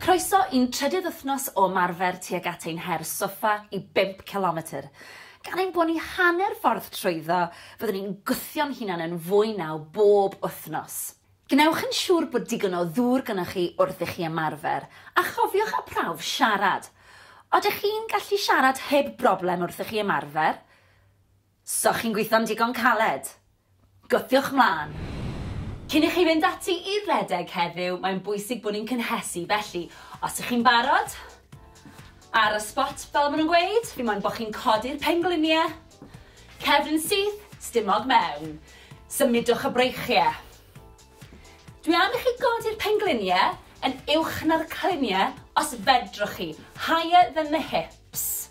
Croeso i'n trydydd wythnos o ymarfer tuag at ein her soffa i bump cilometr. Gan ein bod ni hanner ffordd trwyddo, fyddwn ni'n gwthio'n hunan yn fwy naw bob wythnos. Gwnewch yn siŵr bod digon o ddŵr gynnoch chi wrth i chi ymarfer, a chofiwch â prawf siarad. Odych chi'n gallu siarad heb broblem wrth i chi ymarfer? So chi'n gwitho'n digon caled? Gwthiwch 'mlan! Cyn i chi fynd ati i redeg heddiw, mae'n bwysig bod ni'n cynhesu, felly, os ych chi'n barod, ar y sbot fel ma' nhw'n gweud, fi moyn bo' chi'n codi'r penglinie, cefn yn syth, stumog mewn. Symudwch y breichie. Dwi am i chi godi'r penglinie yn uwch na'r clinie os fedrwch chi, higher than the hips. Ps.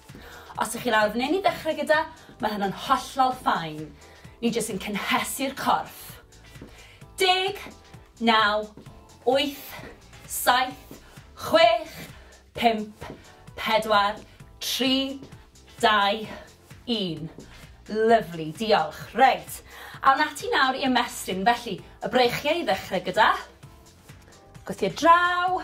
Os ych chi'n arwrneini ddechrau gyda, mae hynna'n hollol fine. Ni jyst yn cynhesu'r corff. Deg, naw, wyth, saith, chwech, pump, pedwar, tri, dau, un. Lyfli, diolch. Reit, awn ati nawr i ymestyn, felly, y breichiau i ddechrau gyda. Gwthio draw.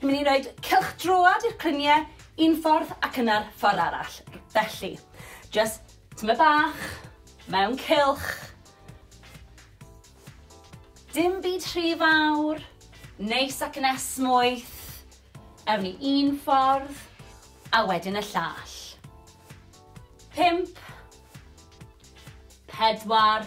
Ni'n mynd i roed cylch droad i'r crynie un ffordd ac yna'r ffordd arall. Felly, just tyma bach, mewn cylch. Dim byd rhy fawr, neis ac yn esmwyth. Ewn ni un ffordd, a wedyn y llall. Pimp. Pedwar.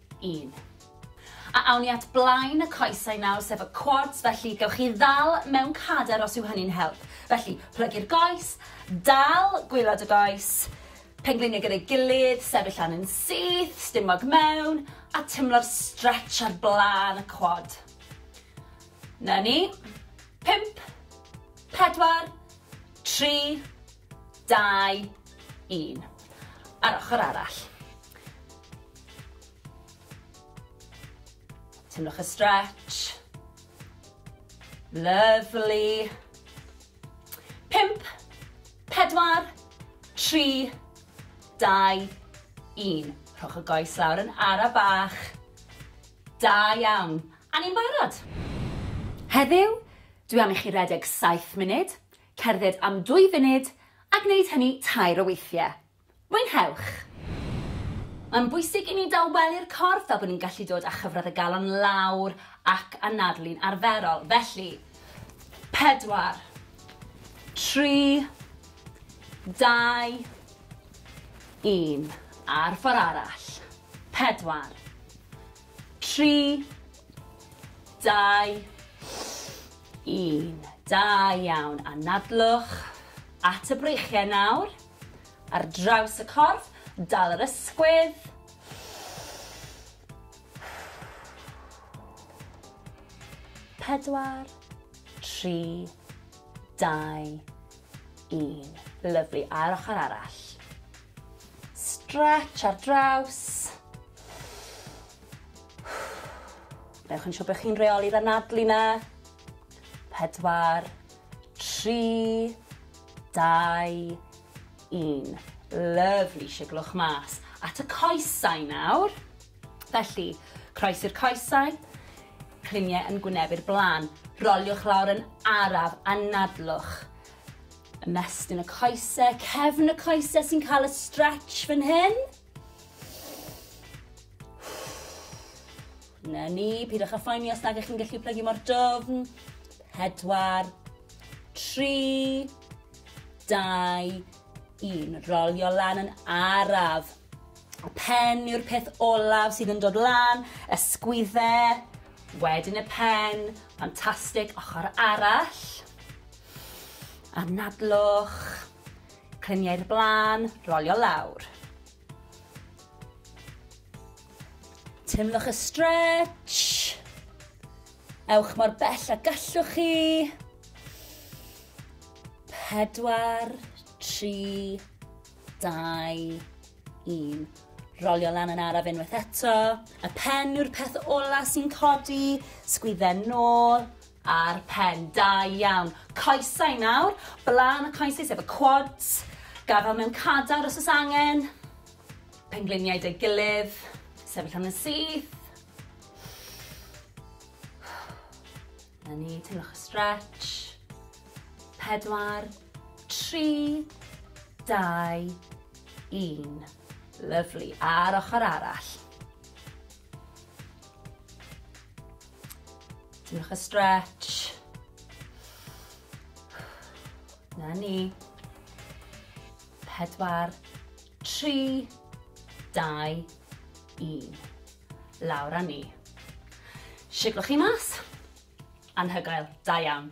un. A awn ni at blaen y coesau nawr, sef y quads, felly gewch chi ddal mewn cader os yw hynny'n help. Felly, plygu'r goes, dal gwylod y goes, pengliniau gyda'i gilydd, sefyll lan yn syth, stumog mewn, a tymlo'r stretch ar blaen y quad. Na ni. 5, 4, 3, 2, 1. Ar ochr arall. Tynnwch y stretch. Lovely. Pimp, pedwar, tri, dau, un. Rhowch y goes lawr yn ara bach. Da iawn. A ni'n barod. Heddiw, dwi am i chi redeg 7 munud, cerdded am 2 funud a gwneud hynny tair o weithiau. Mwynhewch! Mae'n bwysig i ni dawelu'r corff fel bod ni'n gallu dod â chyfradd y galon lawr ac anadlu'n arferol. Felly, pedwar, tri, dau, un. A'r ffordd arall. Pedwar, tri, dau, un. Da iawn. Anadlwch at y breichiau nawr. Ar draws y corff, dal yr ysgwydd. Pedwar, tri, dau, un. Lyflu, a'r ochr arall. Stretch ar draws. Newch yn siŵr bod chi'n reoli'r anadlu na. Pedwar, tri, Dau, un. Lyfli, siglwch mas. At y coesau nawr. Felly, croesi'r coesau, climiau yn gwynebu'r blaen. Roliwch lawr yn araf, anadlwch. Ymestyn y coesau, cefn y coesau sy'n cael y stretch fan hyn. Na ni, pidwch â phoeni os nag ych chi'n gallu plygu mor dofn. Pedwar, tri, dau, un. Rolio lan yn araf. Y pen yw'r peth olaf sydd yn dod lan, y sgwydde, wedyn y pen, ffantastig, ochr arall. Anadlwch, Clymu i'r blaen, rolio lawr. Teimlwch y stretch. Ewch mor bell a gallwch chi. Pedwar, tri, dau, un. Rolio lan yn araf unwaith eto. Y pen yw'r peth ola sy'n codi. Sgwydden nôl. Ar pen, da iawn. Coesau nawr, blaen y coesau sef y quads, gafal mewn cadar os oes angen, pengliniau dy gilydd, sefyll yn y syth. Na ni, teimlwch y stretch. Pedwar, tri, dau, un. Lyflu, a'r ochr arall. Diolch y stretch. Na ni. Pedwar, tri, dau, un. Lawr a ni. Siglwch chi mas. Anhygoel, da iawn.